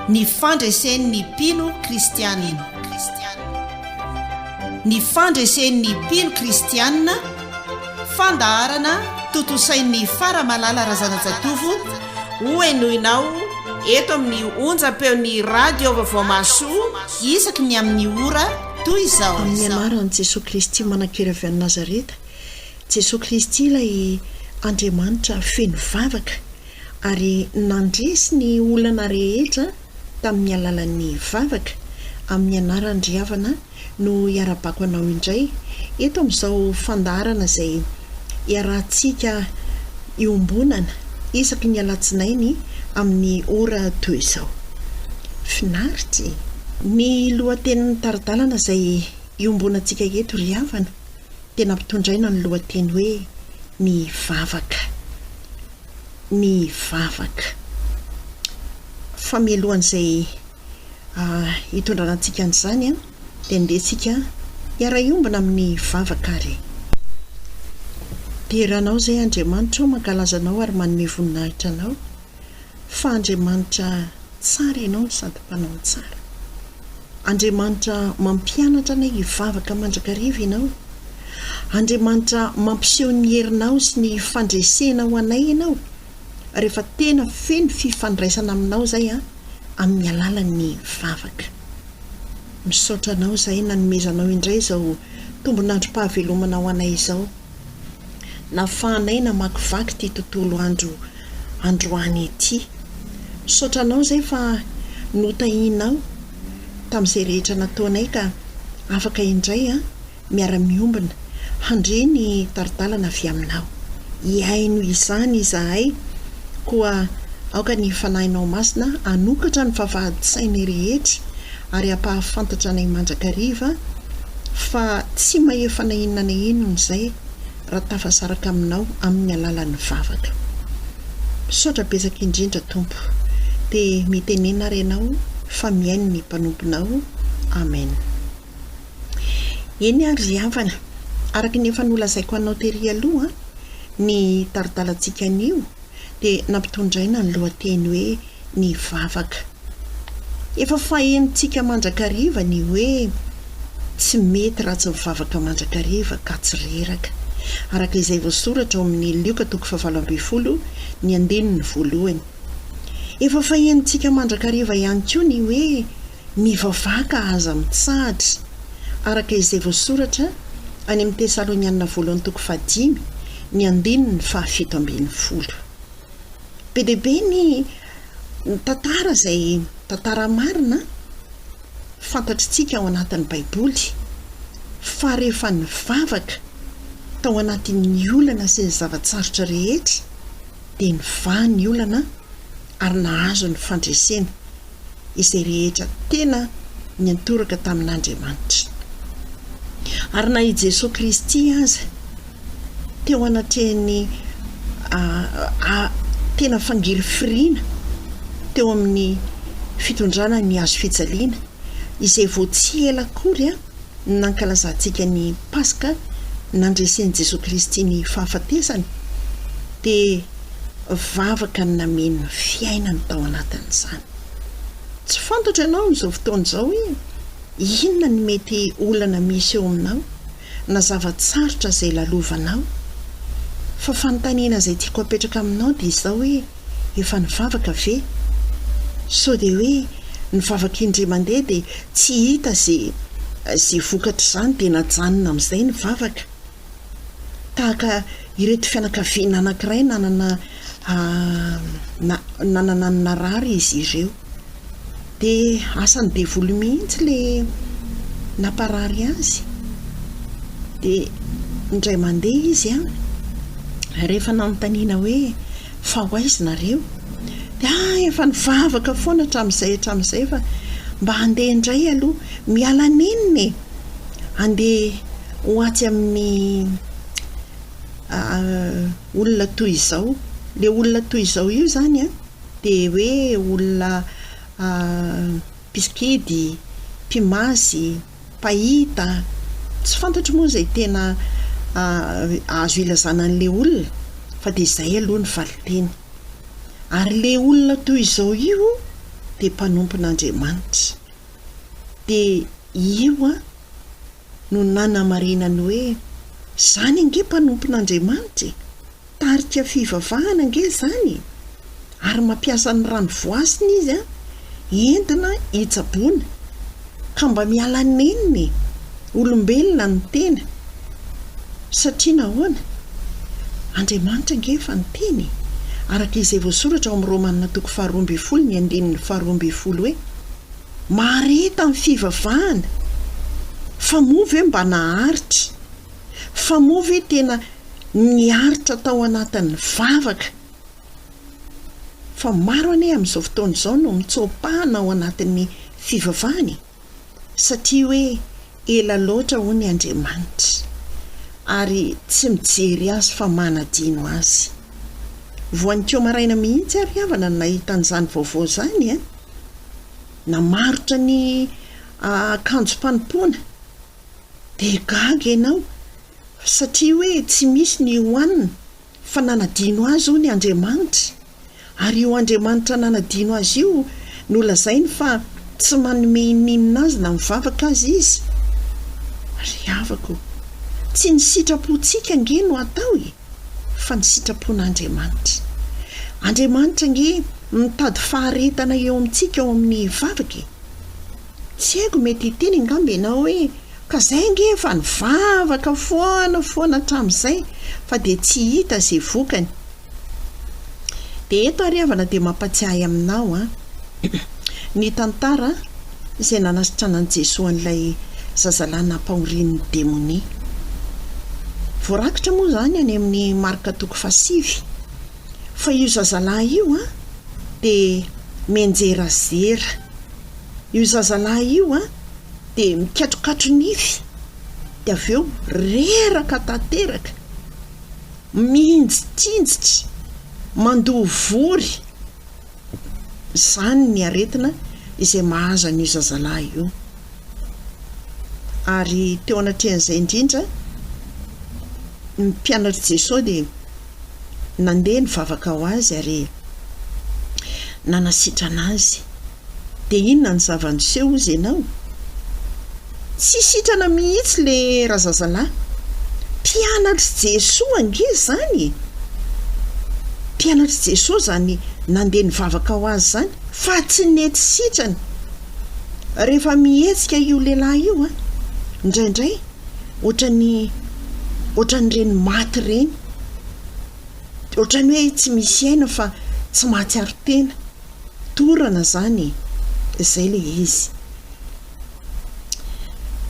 Ny fandresen'ny mpino kristianina. Ny fandresen'ny mpino kristianina, fandaharana tontosain'ny Fara Malala Razanajatovo, hohenoinao eto amin'ny onjam-peon'ny Radio Vaovao Mahasoa isaky ny amin'ny ora toy izao. Amin'ny anaran'i Jesoa Kristy Manankira avy any Nazareta, Jesoa Kristy ilay Andriamanitra feno vavaka ary nandresy ny olana rehetra tamin'ny alalan'ny vavaka, amin'ny anarany ry havana no iarabako anao indray eto amin'izao fandaharana izay iarahantsika iombonana isaky ny alatsinainy amin'ny ora toy izao. Finaritra e! Ny lohatenin'ny tari-dalana izay iombonantsika eto ry havana. dia nampitondraina ny lohateny hoe Ny vavaka. Ny vavaka. Fa mialohan'izay hitondrana antsika an'izany dia andeha isika hiara-hiombona amin'ny vavaka ary e. Dera anao izay Andriamanitra ô, mankalaza anao ary manome voninahitra anao. fa Andriamanitra tsara ianao no sady mpanao ny tsara. Andriamanitra mampianatra anay hivavaka mandrakariva ianao. Andriamanitra mampiseho ny herinao sy ny fandresena ho anay ianao rehefa tena feno fifandraisana aminao izay an amin'ny alalan'ny vavaka. Misaotra anao izahay nanomezanao indray izao tombon'androm-pahavelomana ho anay izao. nafahanay namakivaky ity tontolo andro androany ity. Misaotra anao izay fa notahinao tamin'izay rehetra nataonay ka afaka indray miara-miombona handre ny tari-dalana avy aminao. Hihaino izany izahay koa aoka ny Fanahinao Masina hanokatra ny vavahadin-tsainay rehetra ary hampahafantatra anay mandrakariva fa tsy mahefa na inona na inona izay raha tafasaraka aminao amin'ny alalan'ny vavaka. Misaotra betsaka indrindra Tompo. Dia mitenena ary ianao fa mihaino ny mpanomponao. Amen. Eny ary ry havana, araka ny efa nolazaiko anao tery aloha, ny taridalantsika anio dia nampitondraina ny lohateny hoe ny vavaka. Efa fahenintsika mandrakariva ny hoe tsy mety raha tsy mivavaka mandrakariva ka tsy reraka. Araka izay voasoratra ao amin'ny Lioka toko fahavalo ambin'ny folo ny andininy voalohany. Efa fahenintsika mandrakariva ihany koa ny hoe mivavaka aza mitsahatra. Araka izay voasoratra any amin'ny Tesalonianina voalohany toko fahadimy ny andininy fahafito ambin'ny folo. Be dia be ny tantara izay tantara marina fantatritsika ao anatin'ny Baiboly fa rehefa nivavaka tao anatin'ny olana sy ny zava-tsarotra rehetra dia nivaha ny olana ary nahazo ny fandresena. izay rehetra tena niantoraka tamin'Andriamanitra. Ary na i Jesoa Kristy aza, teo anatrehan'ny tena fangirifiriana teo amin'ny fitondrana ny Hazo fijaliana, izay vao tsy ela akory, nankalazantsika ny Paska nandresen'i Jesoa Kristy ny fahafatesany dia vavaka nameno ny fiainany tao anatin'izany. Tsy fantatra ianao amin'izao fotoana izao hoe inona ny mety olana misy eo aminao na zava-tsarotra izay lalovanao. Fa fanontaniana izay tiako apetraka aminao dia izao hoe, efa nivavaka ve? Sao dia hoe nivavaka indray mandeha dia tsy hita ze ze vokatr'izany dia najanona amin'izay ny vavaka? Tahaka ireto fianakaviana anankiray nanana nanana ny narary izy ireo. Dia asan'ny devoly mihitsy ilay namparary azy. Dia indray mandeha izy an, rehefa nanontaniana hoe fa ho aiza nareo? Dia ah efa nivavaka foana hatramin'izay hatramin'izay fa mba handeha indray aloha, miala nenina e! Handeha ho atsy amin'ny olona toy izao, ilay olona toy izao io izany an. dia hoe olona mpisikidy, mpimazy, mpahita, tsy fantatro moa izay tena azo ilazana an'ilay olona fa dia izay aloha ny valinteny. Ary ilay olona toy izao io dia mpanompon'Andriamanitra. Dia io no nanamarinany hoe, 'Izany ange mpanompon'Andriamanitra e! Tarika fivavahana ange izany e! Ary mampiasa ny rano voasina izy an, entina hitsaboana. Ka mba miala nenina e! Olombelona ny tena. Satria nahoana? Andriamanitra ange efa niteny e! Araka izay voasoratra ao amin'ny Romana toko faharoa ambin'ny folo ny andininy faharoa ambin'ny folo hoe, Mahareta ny fivavahana! Fa moa ve mba naharitra? Fa moa ve tena niaritra tao anatin'ny vavaka? Fa maro anie amin'izao fotoana izao no mitsoa-pahana ao anatin'ny fivavahana e! Satria hoe ela loatra hono i Andriamanitra, ary tsy mijery azy fa manadino azy. Voan'iko maraina mihitsy ary havana no nahita an'izany vaovao izany e! Namarotra ny akanjom-panompoana. Dia gaga ianao satria hoe tsy misy ny hohanina fa nanadino azy hono i Andriamanitra. Ary io Andriamanitra nanadino azy io no lazainy fa tsy manome ininona azy na mivavaka aza izy. Ry havako o! Tsy ny sitrapontsika ange no atao e! Fa ny sitrapon'Andriamanitra. Andriamanitra ange mitady faharetana eo amintsika ao amin'ny vavaka e! Tsy haiko mety hiteny angamba ianao hoe ka zay ange efa nivavaka foana foana hatramin'izay fa dia tsy hita izay vokany. Dia eto ary havana dia mampatsiahy aminao an! ny tantara izay nanasitranan'i Jesoa an'ilay zazalahy nampahorian'ny demonia. Voarakitra moa izany any amin'ny Marka toko fahasivy fa io zazalahy io an dia mianjerazera. Io zazalahy io an, dia mikatrokatro nify, dia avy eo reraka tanteraka, mihinjitsinjitra, mandoa vory. Izany ny aretina izay mahazo an'io zazalahy io. Ary teo anatrehan'izay indrindra, ny mpianatr'i Jesoa dia. nandeha nivavaka ho azy ary nanasitrana azy. Dia inona ny zava-niseho hozy ianao? Tsy sitrana mihitsy le razazalahy. Mpianatr'i Jesoa ange izany e! Mpianatr'i Jesoa izany nandeha nivavaka ho azy izany fa tsy nety sitrana. Rehefa mihetsika io lehilahy io an, indraindray, ohatran'ny ohatran'ireny maty ireny, ohatran'ny hoe tsy misy aina fa tsy mahatsiaro tena, dorana izany e, izay ilay izy.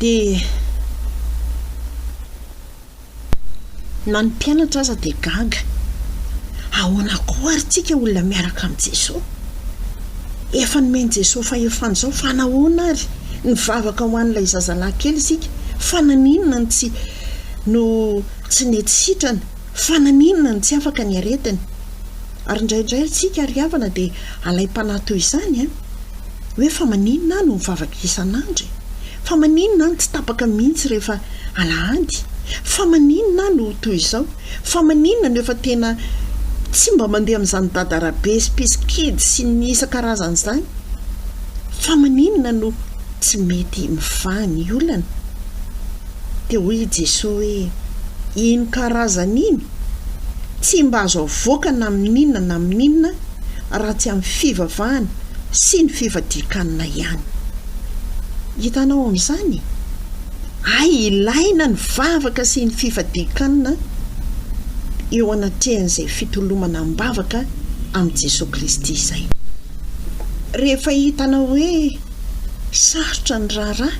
Dia na ny mpianatra aza dia gaga, ahoana koa ary tsika olona miaraka amin'i Jesoa? Efa nomen'i Jesoa fahefana izao fa nahoana ary? nivavaka ho an'ilay zazalahy kely isika, fa naninona no tsy no tsy nety sitrana? Fa naninona no tsy afaka ny aretiny? Ary indraindray antsika ry havana dia alaim-panahy toy izany an! Hoe fa maninona aho no mivavaka isan'andro e? Fa maninona aho no tsy tapaka mihitsy rehefa alahady? Fa maninona aho no toy izao? Fa maninona no efa tena tsy mba mandeha amin'izany dada rabe sy pisikidy sy ny isan-karazany izany? Fa maninona no tsy mety mivaha ny olana? Dia hoy i Jesoa hoe, Iny karazany iny tsy mba azo avoaka na amin'inona na amin'inona raha tsy amin'ny fivavahana sy ny fifadian-kanina ihany. Hitanao amin'izany? Hay ilaina ny vavaka sy ny fifadian-kanina eo anatrehan'izay fitolomana am-bavaka amin'i Jesoa Kristy izay. Rehefa hitanao hoe sarotra ny raharaha,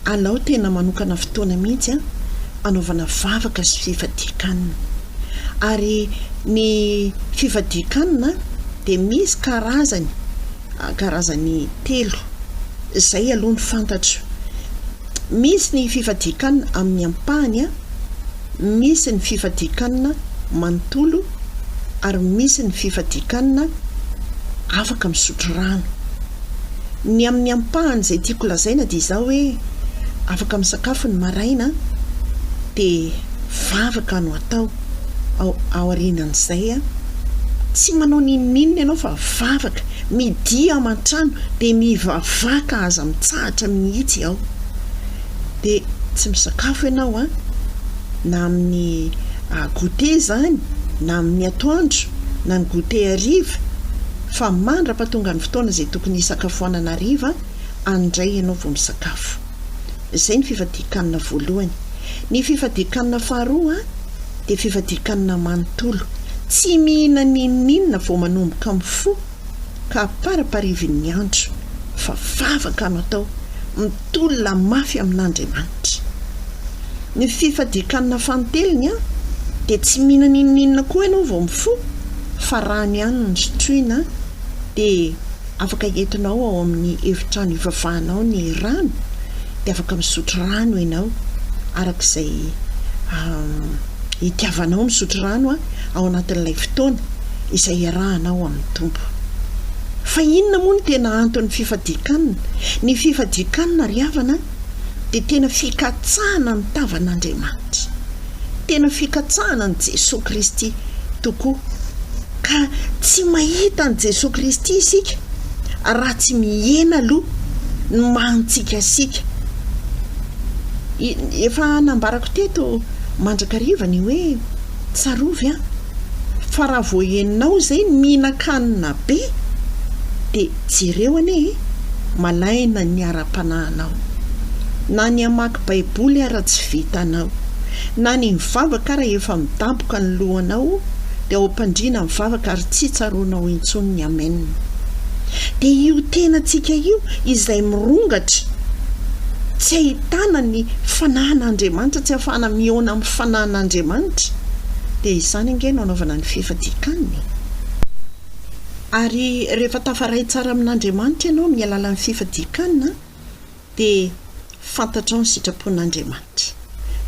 alao tena manokana fotoana mihitsy an, anaovana vavaka sy fifadian-kanina. Ary ny fifadian-kanina dia misy karazany, karazany telo. Izay aloha no fantatro. Misy ny fifadian-kanina amin'ny ampahany a, misy ny fifadian-kanina manontolo ary misy ny fifadian-kanina afaka misotro rano. Ny amin'ny ampahany izay tiako lazaina dia izao hoe afaka misakafo ny maraina dia vavaka no atao. aorianan'izay an! Tsy manao n'inon'inona ianao fa vavaka, midia ao aman-trano dia mivavaka aza mitsahatra mihitsy ao. Dia tsy misakafo ianao an! Na amin'ny goûter izany na amin'ny atoandro na ny goûter hariva fa mandrapatonga ny fotoana izay tokony hisakafoanana hariva an! indray ianao vao misakafo. Izay ny fifadian-kanina voalohany. Ny fifadian-kanina faharoa dia fifadian-kanina manontolo. Tsy mihinana n'inon'inona vao manomboka mifoha ka aparaparivin'ny andro fa vavaka no atao, mitolona mafy amin'Andriamanitra. Ny fifadian-kanina fanintelony dia tsy mihinana n'inon'inona koa ianao vao mifoha fa rano ihany no sotroina dia Afaka entinao ao amin'ny efitrano ivavahana ao ny rano, dia afaka misotro rano ianao araka izay itiavanao misotro rano ao anatin'ilay fotoana izay iarahanao amin'ny Tompo. Fa inona moa no tena anton'ny fifadian-kanina? Ny fifadian-kanina ry havana dia tena fikatsahana ny tavan'Andriamanitra, tena fikatsahana an'i Jesoa Kristy tokoa. Ka tsy mahita an'i Jesoa Kristy isika raha tsy mihena aloha ny maha antsikasika. Efa nambarako teto mandrakariva ny hoe, tsarovy an! fa raha vao henonao izay ny mihinan-kanina be dia jereo anie e! malaina ny ara-panahinao. Na ny hamaky Baiboly ara tsy vitanao na ny mivavaka ara efa midaboka ny lohanao dia ao ampandriana mivavaka ary tsy tsaroanao intsony ny amen dia io tenantsika io izay mirongatra tsy ahitana ny fanahin'Andriamanitra tsy afahana mihaona amin'ny fanahin'Andriamanitra dia izany ange no anaovana ny fifatikany ary rehefa tafaray tsara amin'Andriamanitra ianao amin'ny alalan'ny fifatikana dia fantatrao ny sitrapon'Andriamanitra.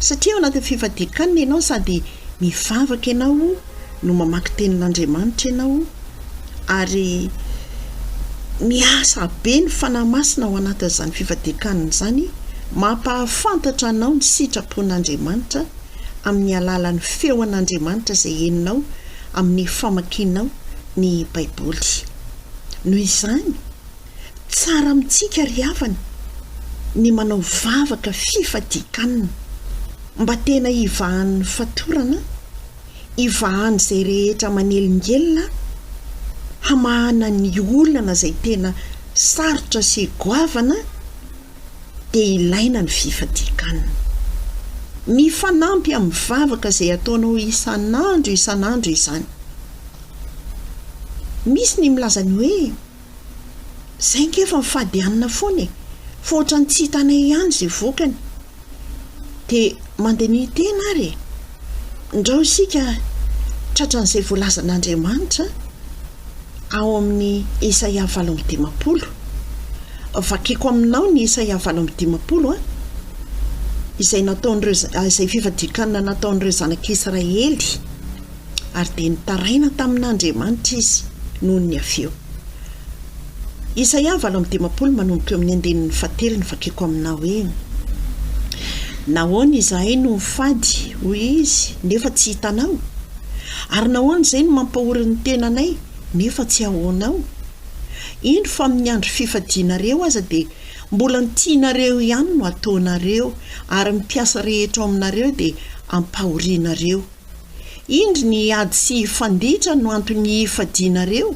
Satria ao anatin'ny fifadian-kanina ianao sady mivavaka ianao no mamaky tenin'Andriamanitra ianao ary miasa be ny Fanahy Masina ao anatin'izany fifadian-kanina izany mampahafantatra anao ny sitrapon'Andriamanitra amin'ny alalan'ny feon'Andriamanitra izay henonao amin'ny famakianao ny Baiboly. Noho izany, Tsara amintsika ry havana ny manao vavaka fifadian-kanina mba tena hivahan'ny fatorana, hivahan'izay rehetra manelingelina hamahana ny olana izay tena sarotra sy goavana dia ilaina ny fifadian-kanina. Mifanampy amin'ny vavaka izay ataonao isan'andro isan'andro izany. Misy ny milaza ny hoe. Zay nge fa mifady hanina foana e! Fa ohatran'ny tsy hitanay ihany zay vokany. De mandiniha tena ary e! Ndrao isika tratran'izay voalazan'Andriamanitra ao amin'ny Isaia valo amby dimampolo. Vakiko aminao ny Isaia valo amby dimampolo an! Izay nataon'ireo izay fifadian-kanina nataon'ireo zanak'Israely. ary dia nitaraina tamin'Andriamanitra izy noho ny avy eo. Isaia valo amby dimampolo manomboka eo amin'ny andininy fahatelo ny vakiko aminao hoe, Nahoana izahay no mifady, hoy izy, nefa tsy hitanao? Ary nahoana izay no mampahory ny tenanay, nefa tsy ahoanao? Eny fa amin'ny andro fifadianareo aza dia mbola ny tianareo ihany no ataonareo, ary ny mpiasa rehetra ao aminareo dia ampahorianareo. Indry ny ady sy hifanditra no anton'ny hifadianareo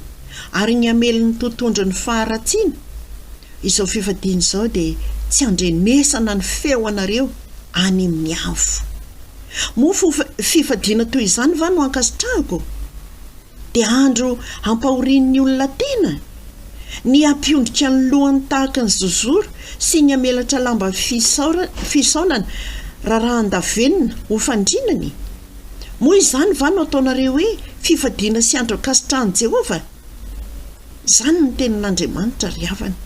ary ny hamely ny totondro ny faharatsiana? Izao fifadiana izao dia tsy andrenesana ny feo anareo any amin'ny avo. Moa fifadiana toy izany va no ankasitrahako? Dia andro hampahorian'ny olona tena? Ny hampiondrika ny lohany tahaka ny zozoro sy ny hamelatra lamba fisaorana rarahan-davenona ho fandrinany? Moa izany va no ataonareo hoe fifadiana sy andro ankasitrahan'i Jehovah? Izany ny Tenin'Andriamanitra, ry havana.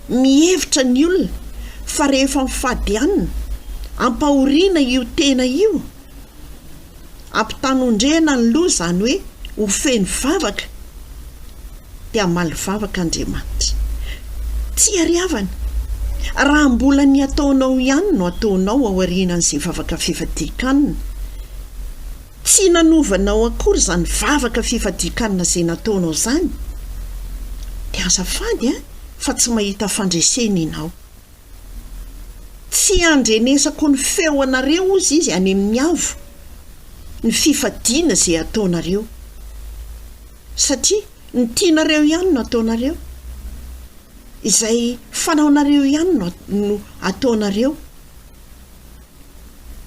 Mihevitra ny olona fa rehefa mifady hanina, ampahoriana io tena io. Ampitanondrena ny loha izany hoe ho feno vavaka dia hamaly vavaka Andriamanitra. Tsiariavana, raha mbola ny ataonao ihany no ataonao aorianan'izay vavaka fifadian-kanina, tsy nanovanao akory izany vavaka fifadian-kanina izay nataonao izany, dia azafady fa tsy mahita fandresena ianao. Tsy handrenesako ny feo anareo hozy izy any amin'ny avo ny fifadiana izay ataonareo satria ny tianareo ihany no ataonareo, izay fanaonareo ihany no no ataonareo.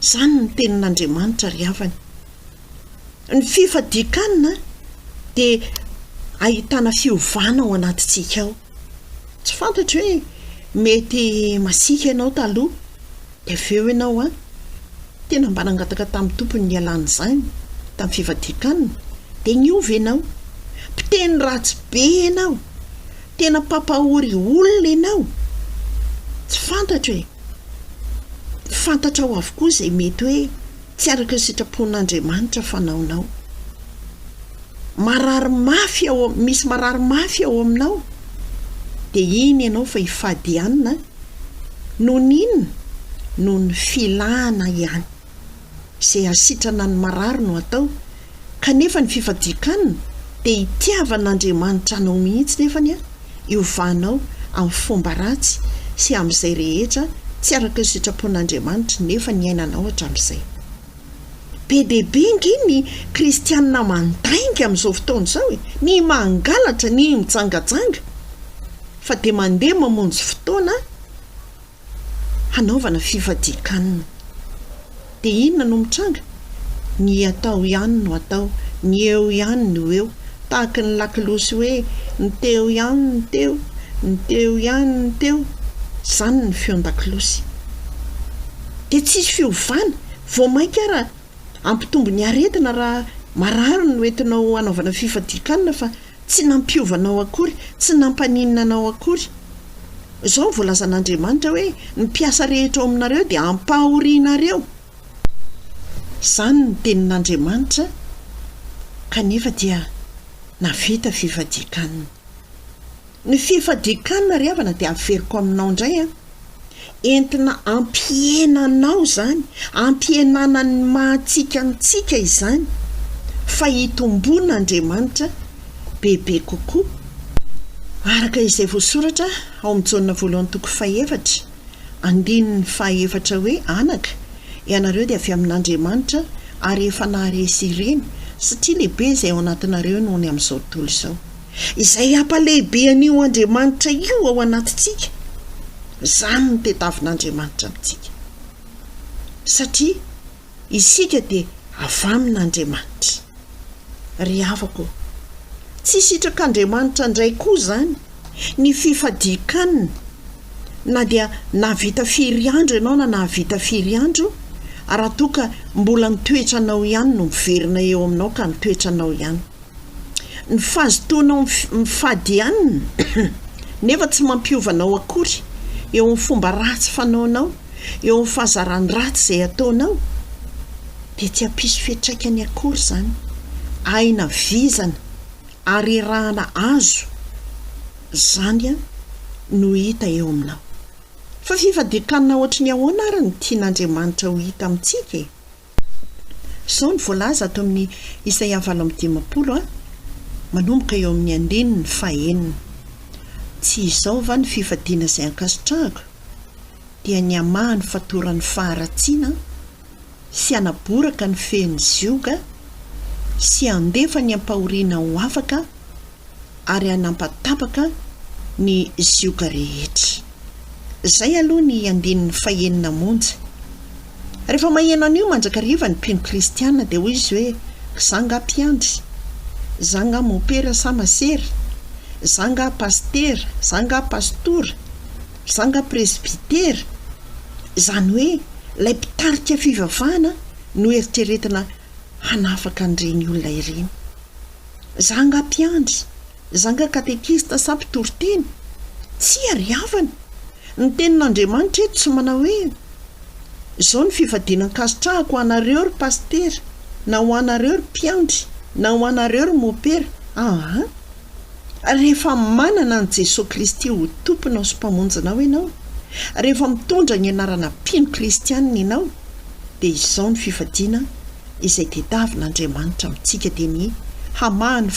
Izany ny tenin'Andriamanitra ry havana. Ny fifadian-kanina dia ahitana fiovana ao anatintsika ao. Tsy fantatro hoe mety masiaka ianao taloha dia avy eo ianao an! Tena mba nangataka tamin'ny Tompo ny hialana izany tamin'ny fivadikan-kanina dia niova ianao. Mpiteny ratsy be ianao. Tena mpampahory olona ianao. Tsy fantatro e! Fantatrao avokoa izay mety hoe. Tsy araka ny sitrapon'Andriamanitra fanaonao. Marary mafy ao, misy marary mafy ao aminao. Dia iny ianao fa hifady ihany an. Noho ny inona? Noho ny filana ihany. Izay hasitrana ny marary no atao. Kanefa ny fifadian-kanina dia hitiavan'Andriamanitra anao mihitsy nefany an, iovanao amin'ny fomba ratsy sy amin'izay rehetra tsy araka ny sitrapon'Andriamanitra nefa niainanao hatramin'izay. Be dia be ange ny kristianina mandainga amin'izao fotoana izao e! Ny mangalatra, ny mijangajanga, fa dia mandeha mamonjy fotoana, hanaovana fifadian-kanina. Dia inona no mitranga? Ny atao ihany no atao, ny eo ihany no eo, tahaka ny lakolosy hoe ny teo ihany no teo, ny teo ihany no teo, izany ny feon-dakolosy. Dia tsisy fiovana, vao mainka ara, Hampitombo ny aretina raha marary no entinao hanaovana fifadian-kanina fa tsy nampiova anao akory, tsy nampaninona anao akory. Izao no voalazan'Andriamanitra hoe, Ny mpiasa rehetra ao aminareo dia hampahorianareo. Izany no tenin'Andriamanitra kanefa dia nahavita fifadian-kanina. Ny fifadian-kanina ry havana dia averiko aminao indray an! Entina ampihena anao izany, ampihenana ny maha antsika antsika izany, fa hitomboan' Andriamanitra bebe kokoa, araka izay voasoratra ao amin'ny Jaona voalohany toko fahefatra, andininy fahaefatra hoe, Anaka, ianareo dia avy amin' Andriamanitra ary efa naharesy ireny, satria lehibe izay ao anatinareo noho ny amin'izao tontolo izao. izay hampalehibe an'io Andriamanitra io ao anatintsika, izany no tetavin'Andriamanitra amintsika. Satria isika dia avy amin'Andriamanitra. Ry havako ô, tsy sitrak'Andriamanitra indray koa izany ny fifadian-kanina, na dia nahavita firy andro ianao na nahavita firy andro, raha toa ka mbola ny toetranao ihany no miverina eo aminao ka ny toetranao ihany. Ny fahazotoanao mifady ihany nefa tsy mampiova anao akory eo amin'ny fomba ratsy fanaonao, eo amin'ny fahazarany ratsy izay ataonao, dia tsy hampisy fiantraikany akory izany. Aina vizana ary erahana azo izany no hita eo aminao. Fa fifadian-kanina hoatry ny ahoana ary no tian'Andriamanitra ho hita amintsika e? Izao no voalaza ato amin'ny Isaia valo amby dimampolo, manomboka eo amin'ny andininy fahenina, Tsy izao va ny fifadiana izay ankasitrahako, dia ny hamaha ny fatoran'ny faharatsiana, sy hanaboraka ny fehin'ny zioga, sy handefa ny ampahoriana ho afaka, ary hanampatapaka ny zioga rehetra. Izay aloha ny andininy fahenina monja. Rehefa maheno an'io mandrakariva ny mpino kristiana dia hoy izy hoe, Za nga mpiandry? Za nga mopera sa masera? Za nga pasitera? Za nga pastora? Za nga presbytera? Izany hoe ilay mpitarika fivavahana no eritreretina hanafaka an'ireny olona ireny. Zanga mpiandry, zanga katekista sa mpitoriteny? Tsia ry havana! Ny Tenin'Andriamanitra eto tsy manao hoe, Izao ny fifadiana ankasitrahako ho anareo ry pasitera, na ho anareo ry mpiandry, na ho anareo ry mopera. Aa! Rehefa manana an'i Jesoa Kristy ho Tomponao sy Mpamonjinao ianao, rehefa mitondra ny anarana mpino kristianina ianao, dia izao ny fifadiana izay tediavin'Andriamanitra amintsika dia ny hamaha ny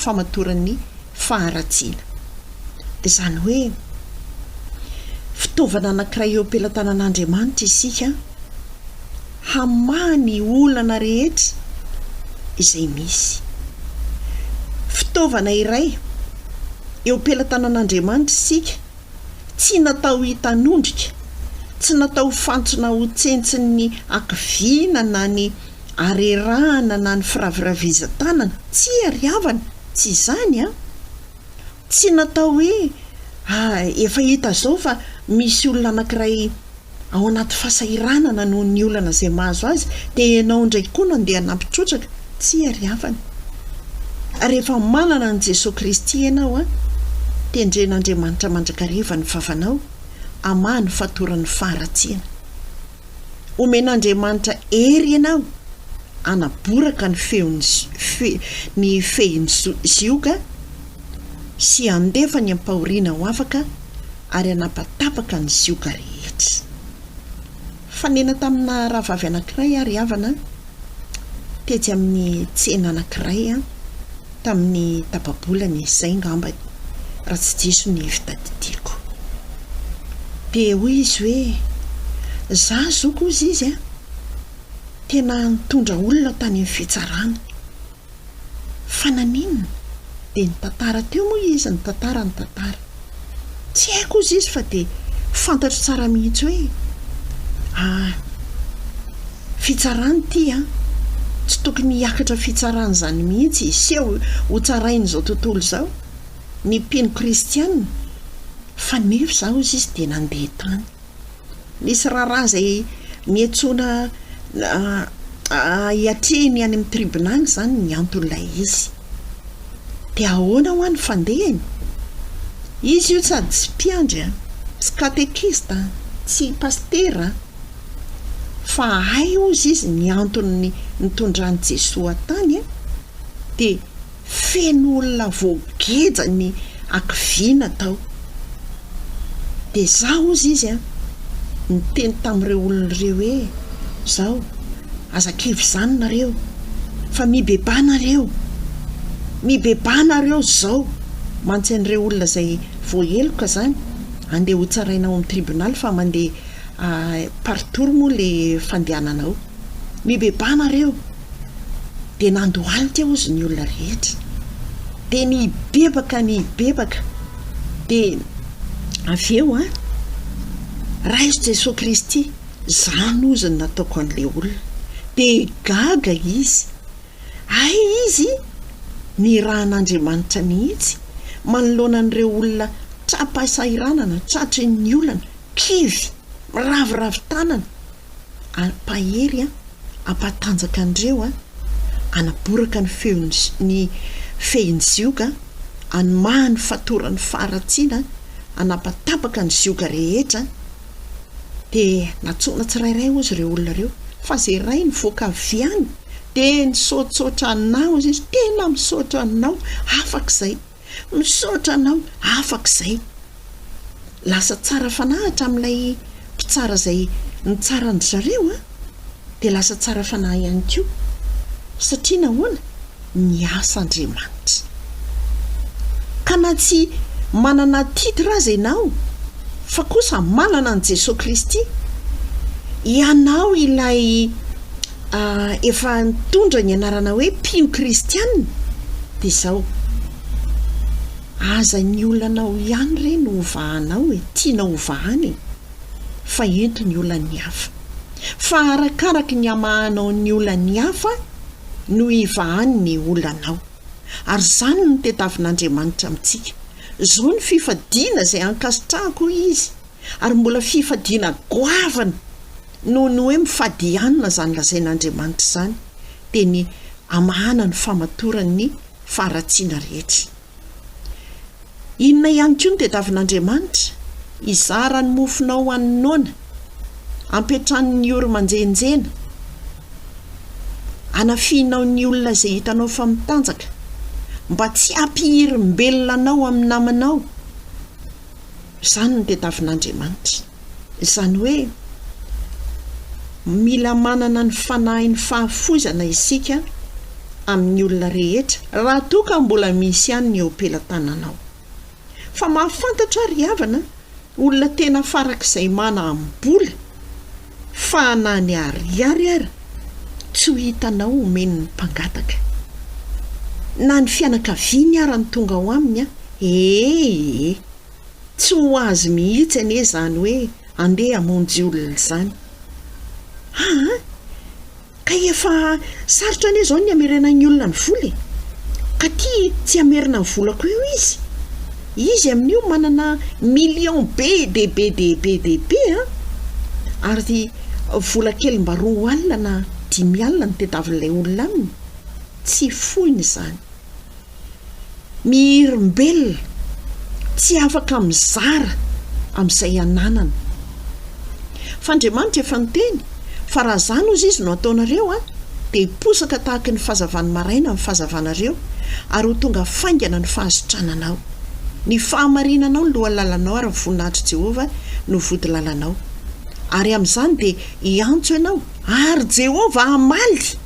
famatoran'ny faharatsiana. Izany hoe, fitaovana anankiray eo am-pelatanan'Andriamanitra isika hamaha ny olana rehetra izay misy. Fitaovana iray eo am-pelatanan'Andriamanitra isika. Tsy natao hitanondrika, tsy natao fantsona ho tsentsin'ny hakiviana na ny harerahana na ny firaviravizan-tanana, tsia ry havana, tsy izany an! Tsy natao hoe, ah, efa hita izao fa misy olona anankiray ao anaty fasahiranana noho ny olana izay mahazo azy dia ianao indray koa no andeha hanampy trotraka, tsia ry havana. Ary efa manana an'i Jesoa Kristy ianao an! Tendren'Andriamanitra mandrakariva ny vavanao, hamaha ny fatoran'ny faharatsiana. Homen'Andriamanitra hery ianao hanaboraka ny feon'ny fe, ny fehin'ny zioga sy handefa ny ampahoriana ho afaka, ary hanapatapaka ny sioka rehetra. Fanena tamina rahavavy anankiray aho ry havana, tetsy amin'ny tsena anankiray tamin'ny tapa-bolana izay ngambany, raha tsy diso ny fitadidiako. Dia hoy izy hoe, za zoky hozy izy a! tena nitondra olona tany amin'ny fitsarana. Fa naninona? Dia nitantara teo moa izy nitantara ny tantara. Tsy haiko hozy izy fa dia fantatro tsara mihitsy hoe ah, fitsarana ity an! Tsy tokony hiakatra fitsarana izany mihitsy hiseho ho tsarain'izao tontolo izao ny mpino kristiana. Fa nefa izaho hozy izy dia nandeha tany. Misy raharaha izay miantsoana hiatrehiny any amin'ny tribonaly izany ny anton'ilay izy. Dia ahoana hoa ny fandehany? Izy io sady tsy mpiandry an, tsy katekista an, tsy pasitera an, fa hay hozy izy ny antony nitondran'i Jesoa tany an, dia Feno olona voageja ny hakiviana tao. Dia izaho, hozy izy an, niteny tamin'ireo olona ireo hoe, Izao, aza kivy izany nareo, fa mibebaha nareo. Mibebaha nareo izao, mantsy an'ireo olona izay voaheloka izany, andeha hotsaraina ao amin'ny tribonaly fa mandeha par tour moa ilay fandehanana ao. Mibebaha nareo! Dia nandohalika eo izy ny olona rehetra. Dia nibebaka nibebaka. Dia avy eo an, raiso Jesoa Kristy, izany ozy ny nataoko an'ilay olona. Dia gaga izy. Hay izy nirahan'Andriamanitra mihitsy manoloana an'ireo olona tra-pahasahiranana, tratry ny olana, kivy, miraviravy tanana. ary pahery an, ampahatanjaka an'ireo an, anaboraka ny feon'ny, ny fehin'ny zioga an, anomaha ny fatoran'ny faharatsiana an, anapatapaka ny zioga rehetra an, dia natsoina tsirairay ozy ireo olona ireo, fa zay iray nivoaka avy any dia nisaotsaotra anah ozy izy, tena misaotra anao, afaka izay. Misaotra anao, afaka izay. Lasa tsara fanahy hatramin'ilay mpitsara izay nitsara an-dry zareo an! Dia lasa tsara fanahy ihany koa. Satria nahoana? Miasa Andriamanitra. Ka na tsy manana titre aza ianao, fa kosa manana an'i Jesoa Kristy, ianao ilay. efa nitondra ny anarana hoe mpino kristiana dia izao aza ny olanao ihany re no hovahanao e tianao hovahana e fa ento ny olan'ny hafa fa arakaraky ny hamahanao ny olan'ny hafa no hivahany ny olanao ary izany no tedavin'andriamanitra amintsika izao ny fifadiana izay ankasitrahako izy ary mbola fifadiana goavana noho ny hoe mifadihanina izany lazain'Andriamanitra izany dia ny hamahana ny famatoran'ny faharatsiana rehetra. Inona ihany koa ny tediavin'Andriamanitra? Hizara ny mofonao ho an'ny noana, hampiantrano ny ory manjenjena, hanafihinao ny olona izay hitanao fa mitanjaka, mba tsy hampihirim-belona anao amin'ny namanao, Izany no tadiavin'Andriamanitra. Izany hoe, mila manana ny fanahin'ny fahafoizana isika amin'ny olona rehetra, raha toa ka mbola misy ihany ny eo am-pelatananao. Fa mahafantatra aho ry havana, olona tena farak'izay manam-bola, Fa na ny ariary ary tsy ho hitanao omeny ny mpangataka. Na ny fianakaviany ara ny tonga ao aminy an! Ee! Tsy ho azy mihitsy anie izany hoe andeha hamonjy olona izany. Aa! Kay efa sarotra anie zao ny hamerenan'ny olona ny vola e! Ka tia tsy hamerina ny volako io izy? Izy amin'io manana million be de be de be de be a! Ary vola kely mba roa alina na dimy alina no tadiavin'ilay olona aminy? Tsy foiny izany. Ny olombelona tsy afaka mizara amin'izay ananany. Fa Andriamanitra efa niteny fa raha izany hozy Izy no ataonareo an, dia hiposaka tahaka ny fazavan'ny maraina ny fazavanareo ary ho tonga faingana ny fahasitrananao. Ny fahamarinanao no lohalalanao ary ny voninahitr'i Jehovah no vodilalanao. Ary amin'izany dia hiantso ianao ary Jehovah hamaly.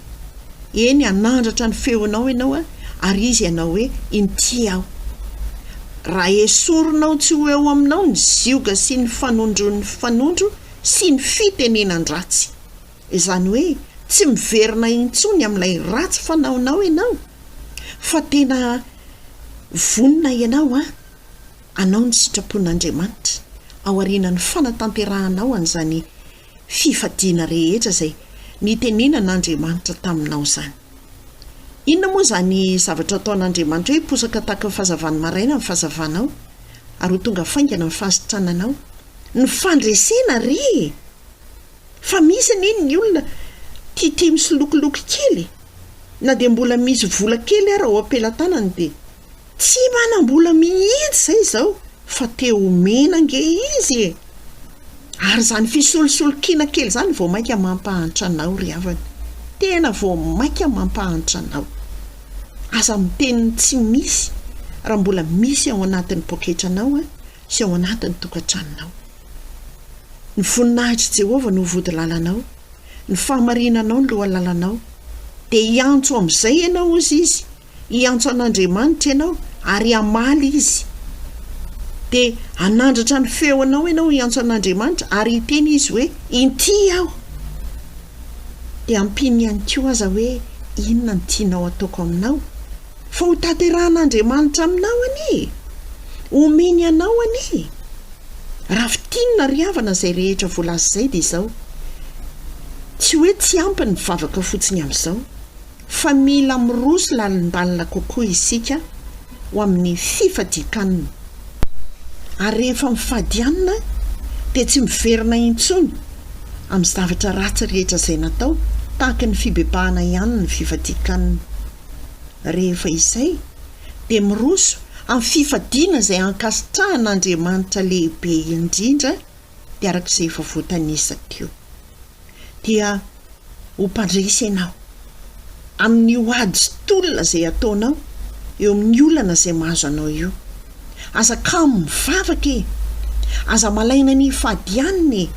Eny, hanandratra ny feonao ianao ary izy hanao hoe, Inty aho. Raha hesorinao tsy ho eo aminao ny zioga sy ny fanondron'ny mpifanondro sy ny fitenenan-dratsy. Izany hoe tsy miverina intsony amin'ilay ratsy fanaonao ianao fa tena vonona ianao hanao ny sitrapon'Andriamanitra aorianan'ny fanatanterahanao an'izany fifadiana rehetra izay nitenenan' Andriamanitra taminao izany. Inona moa izany zavatra ataon' Andriamanitra hoe hiposaka tahaka ny fahazavan'ny maraina ny fahazavanao, ary ho tonga faingana ny fahasitrananao? Ny fandresena re e! Fa misy anie ny olona tia tia misolokoloky kely e! Na dia mbola misy vola kely ara ao am-pelatanany dia Tsy manam-bola mihitsy izay izao fa te homena ange izy e! Ary izany fisolosolo-kiana kely izany vao mainka mampahantra anao ry havana. Tena vao mainka mampahantra anao. Aza miteny ny tsy misy raha mbola misy ao anatin'ny poketranao sy ao anatin'ny tokantranonao. Ny voninahitr'i Jehovah no vodilalanao, ny fahamarinanao no lohalalanao. Dia hiantso amin'izay ianao, hozy izy. Hiantso an'Andriamanitra ianao ary hamaly Izy. Dia hanandratra ny feonao ianao hiantso an'Andriamanitra ary hiteny Izy hoe, Inty aho! Dia ampiany ihany koa aza hoe inona no tianao hataoko aminao. Fa ho tanterahan'Andriamanitra aminao anie e! Homeny anao anie e! Raha fintinina ry havana izay rehetra voalaza izay dia izao, Tsy hoe tsy ampy ny vavaka fotsiny amin'izao. fa mila miroa sy lalindalina kokoa isika ho amin'ny fifadian-kanina. Ary rehefa mifady hanina dia tsy miverina intsony amin'ny zavatra ratsy rehetra izay natao, tahaka ny fibebahana ihany ny fifadian-kanina. Rehefa izay dia miroso amin'ny fifadiana izay ankasitrahan'Andriamanitra lehibe indrindra, dia araka izay efa voatanisa teo. dia ho mpandresy ianao amin'io ady sy tolona izay ataonao eo amin'ny olana izay mahazo anao io. Aza kamo mivavaka e! Aza malaina ny hifadianina e!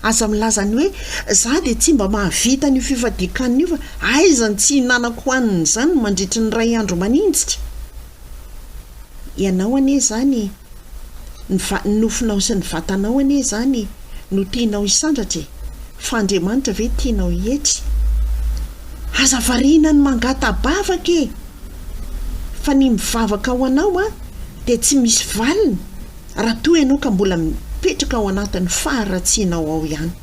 Aza milaza ny hoe za dia tsy mba mahavita an'io fifadian-kanina io fa aiza ny tsy hihinanako hanina izany mandritry ny iray andro maninjitra? Ianao anie izany, ny va, ny nofonao sy ny vatanao anie izany no tianao hisandratra e! Fa Andriamanitra ve tianao hietry? Aza variana ny mangata-bavaka e! Fa ny mivavaka ho anao an, dia tsy misy valiny raha toa ianao ka mbola mipetraka ao anatin'ny faharatsianao ao ihany.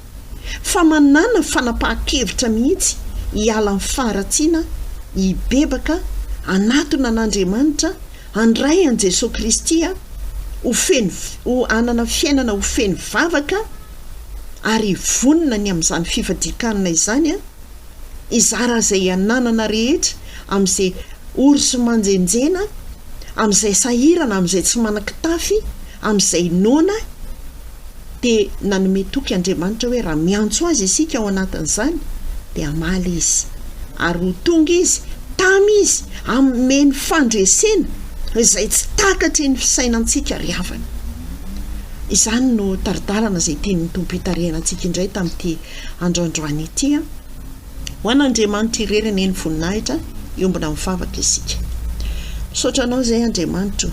fa manàna fanapahan-kevitra mihitsy hiala amin'ny faharatsiana, hibebaka, hanatona an'Andriamanitra, handray an'i Jesoa Kristy, ho feno, ho hanana fiainana ho feno vavaka ary hivonona ny amin'izany fifadian-kanina izany, hizara izay ananana rehetra amin'izay ory sy manjenjena, amin'izay sahirana, amin'izay tsy manan-kitafy, amin'izay noana. dia nanome toky Andriamanitra hoe raha miantso Azy isika ao anatin'izany dia hamaly Izy, ary ho tonga Izy tam Izy hanome ny fandresena izay tsy takatry ny fisainantsika ry havana. Izany no tari-dalana izay tian'ny Tompo hitarihana antsika indray tamin'ity andrandroany ity an! Ho an'Andriamanitra irery anie ny voninahitra, hiombona mivavaka isika. Misaotra Anao izay Andriamanitra o,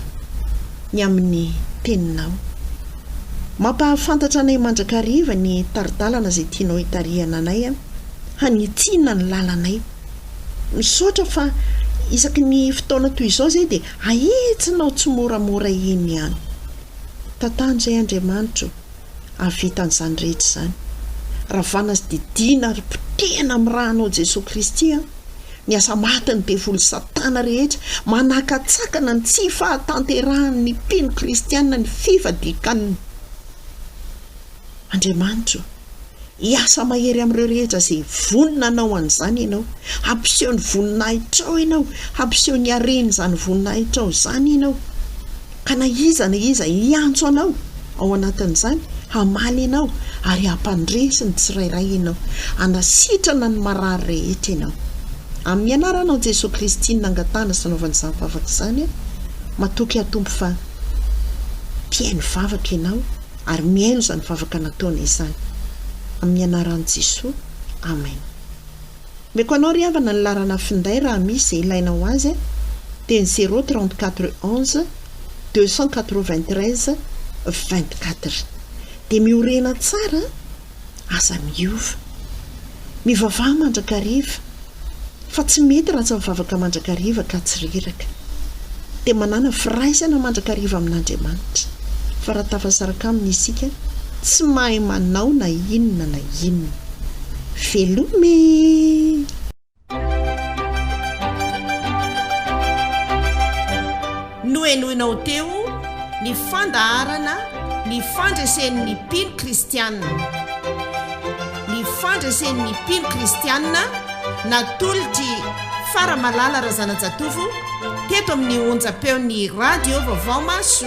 ny amin'ny Teninao. Mampahafantatra anay mandrakariva ny tari-dalana izay tianao hitarihana anay an! Hanitsina ny lalanay. Misaotra fa isaky ny fotoana toy izao izay dia ahitsinao tsimoramora iny ihany. Tantano izay Andriamanitra o! Hahavita an'izany rehetra izany. Ravana sy didiana ary potehina amin'ny rànao Jesoa Kristy an! Ny aza matin'ny devoly Satana rehetra, manakatsakana ny tsy fahatanterahan'ny mpino kristiana ny fivadikan' Andriamanitra o. Hiasa mahery amin'ireo rehetra izay vonona hanao an'izany ianao. Hampiseho ny voninahitrao ianao, hampiseho ny haren'izany voninahitrao izany ianao. Ka na iza na iza hiantso anao ao anatin'izany, hamaly ianao ary hampandresy ny tsirairay ianao, hanasitrana ny marary rehetra ianao. Amin'ny Anaranao Jesoa Kristy no nangatahana sy nanaovana izany vavaka izany aho. Matoky aho Tompo fa mpihaino vavaka ianao ary mihaino izany vavaka nataonay izany. Amin'ny Anaran'i Jesoa. Amen. Meko anao ry havana ny larana finday raha misy ze ilaina ho azy a! dia ny zéro trente quatre onze deux cent quatre vingt treize vingt quatre dia miorena tsara a! aza miova! mivavaha mandrakariva fa tsy mety raha tsy mivavaka mandrakariva ka tsy reraka! dia manana firaisana mandrakariva amin'Andriamanitra, fa raha tafasaraka Aminy isika, tsy mahay manao na inona na inona. Veloma e! Nohenoina ho teo ny fandaharana Ny Fandresen'ny Mpino Kristianina. Ny Fandresen'ny Mpino Kristianina natolotr'i Faramalala Razanajatovo Teto amin'ny onjam-peon'ny Radio Vaovao Maso.